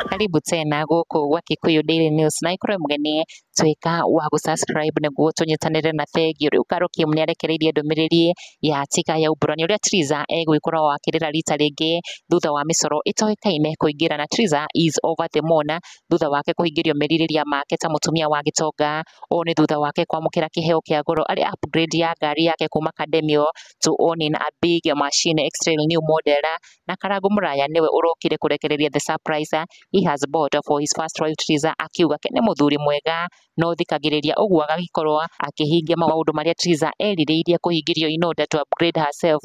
Karibu tena gũkũ gwa Kikuyu Daily News na ikorwo mũgeni tuĩka wa gũ subscribe nĩguo tũnyitanĩre na bengi rĩu Karokium nĩ arekereirie ndũmĩrĩri ya tika ya umburani ũrĩa Triza egwĩkora wakĩrĩra rita rĩngĩ thutha wa mĩcoro ĩtoĩkaine kũingĩra na Triza is over the moon thutha wake kũhingĩrio merirĩria make ta mũtumia wa gĩtonga. Ũũ nĩ thutha wake kwamũkĩra kĩheo kĩa goro arĩ upgrade ya ngari yake kuma Cademio to owning a big machine X-Trail new model. Na Karangũ Mũraya nĩwe ũrokire kũrekereria the surprise he has bought for his first wife Triza akiuga ke nĩ mũthuri mwega no thikagĩrĩria ũguo agagĩkorwo akĩhingia maũndũ marĩa Triza erirĩirie kũhingĩrio in order to upgrade herself.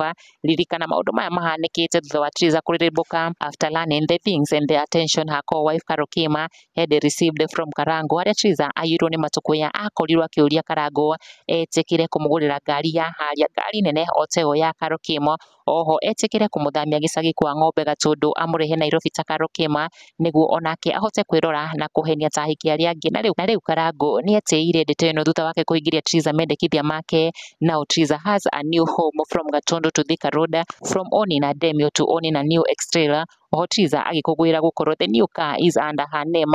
Ririkana maũndũ maya mahanĩkĩte thutha wa Triza kũrĩrĩmbũka after learning the things and the attention her co-wife Carol Kim had received from Karango harĩa Triza aiyirwo nĩ matukũ ya akorirwo akĩũria Karango etĩkĩre kũmũgũrĩra ngari ya haria ngari nene o ta ĩyo ya Carol Kim oho etĩkĩre kũmũthamia gĩcagi kwa Ng'ombe Gatũndũ amũrehe Nairobi ta Carol Kĩma nĩguo onake ahote kwĩrora na kũhenia ta ahiki arĩa angĩ. Na rĩu na rĩu Karangũ nĩetĩĩire ndeto ĩno thutha wake kũingĩria Triza mendekithia make Now Triza has a new home from Gatũndũ to Thika Road, from Oni na Demio to Oni na New Extrail, oho Triza agĩkũngũĩra gũkorwo the new car is under her name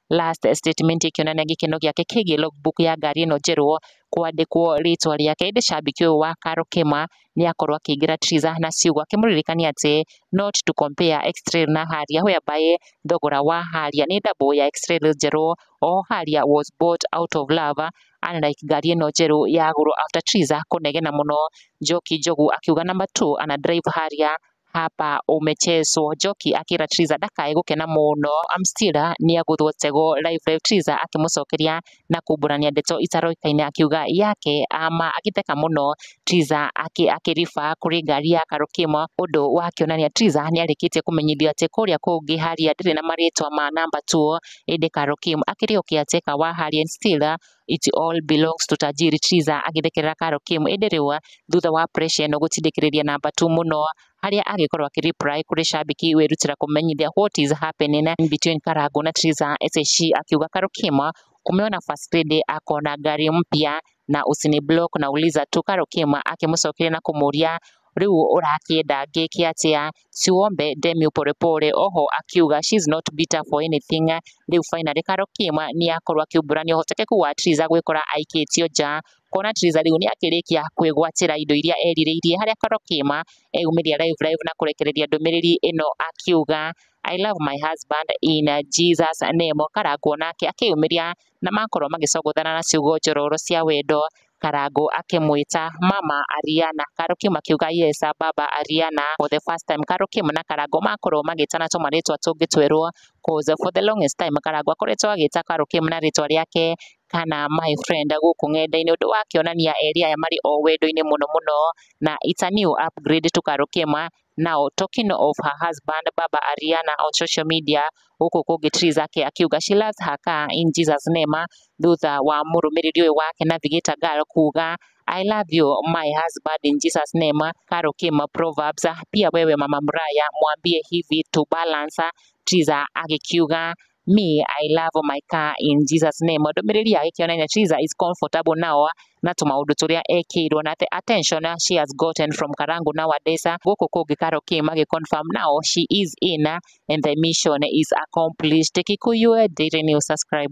Last statement ĩkĩonania gĩkeno gĩake kĩgiĩ logbook ya ngari ĩno njerũ kwandĩkwo rĩtwa rĩake. Ĩndĩ cambĩki ũyũ wa Carol Kĩma nĩ akorwo akĩingĩra Triza na ciugo akĩmũririkania atĩ not to compare X-Trail na Harrier whereby thogora wa Harrier nĩ double ya X-Trail njerũ. Oho Harrier was bought out of love unlike ngari ĩno njerũ yagũrwo after Triza kũnegena mũno. Njoki Njogu akiuga number two ana drive Harrier Haba umechezwo Njoki akĩra Tiriza ndakae gũkena mũno I'm still a nĩagũthwo tego live live Tiriza akĩmũcokeria na kumbũrania ndeto itaroĩkaine akiuga yake ama agĩtheka mũno Tiriza akĩriba kũrĩ ngari ya Karũkĩmo ũndũ wakĩonania Tiriza nĩarĩkĩtie kũmenyithio atĩ kũrĩa kũngĩ Haria ndĩrĩ na marĩtwa ma namba tuo ĩndĩ Karũkĩmo akĩrĩũkia Teka wa Haria still a it all belongs to Tajiri Triza agĩthekerera Karo Kim ĩndĩ rĩu thutha wa pressure ĩno gũtindĩkĩrĩria namba tu mũno harĩa agĩkorwo akĩreply kũrĩ shabiki wĩrutĩra kũmenyithia what is happening between Karangu na Triza SSC akiuga Karo Kim umeona first lady akona ngari mpya na usiniblock na uliza tu Karo Kim akĩmũcokeria na kũmũria Rĩu ũrakĩenda ngĩke atĩa? Siwombe Demi pole pole. Oho akiuga she is not bitter for anything. Rĩu finally Karo Kim nĩ akorwo akĩumbũrania ũhotekeku wa Triza gwĩkora aikĩtio nja. Kuona Triza rĩu nĩ akĩrĩkia kwĩgwatĩra indo iria erirĩirie harĩa Karo Kim eyumĩria live live na kũrekereria ndũmĩrĩri ĩno akiuga I love my husband in Jesus name. Kara nguona nake akĩyumĩria na makorwo magĩcongothana na ciugo njororo cia wendo, Karangũ akĩmwĩta mama Ariana, Karukiuma akiuga yes baba Ariana, for the first time Karukiuma na Karangũ makorwo magĩtana tũmarĩtwa tũngĩ twerũ, coz for the longest time Karangũ akoretwo agĩta Karukiuma na rĩtwa rĩake kana my friend gũkũ ng'enda-inĩ, ũndũ ũrakĩonania erĩ aya marĩ o wendo-inĩ mũno mũno, na it's a new upgrade to Karukiuma Now talking of her husband baba Ariana on social media gũkũ kũngĩ Triza ake akiuga she loves her car in Jesus name thutha wa mũrũmĩrĩri ũyũ wake na Thigita Girl kuga I love you my husband in Jesus name Karo Kim Proverbs pia wewe mama Muraya mwambie hivi to balance Triza agĩkiuga Me, I love my car in Jesus name. Ndũmĩrĩri yake kĩona Nyachiza is comfortable now na tũmaũndũ tũrĩa ekĩirwo na the attention she has gotten from Karangu nowadays. Gũkũ kũngĩ Karo Kim agĩ confirm now she is in and the mission is accomplished. Kikuyu Daily News subscribe.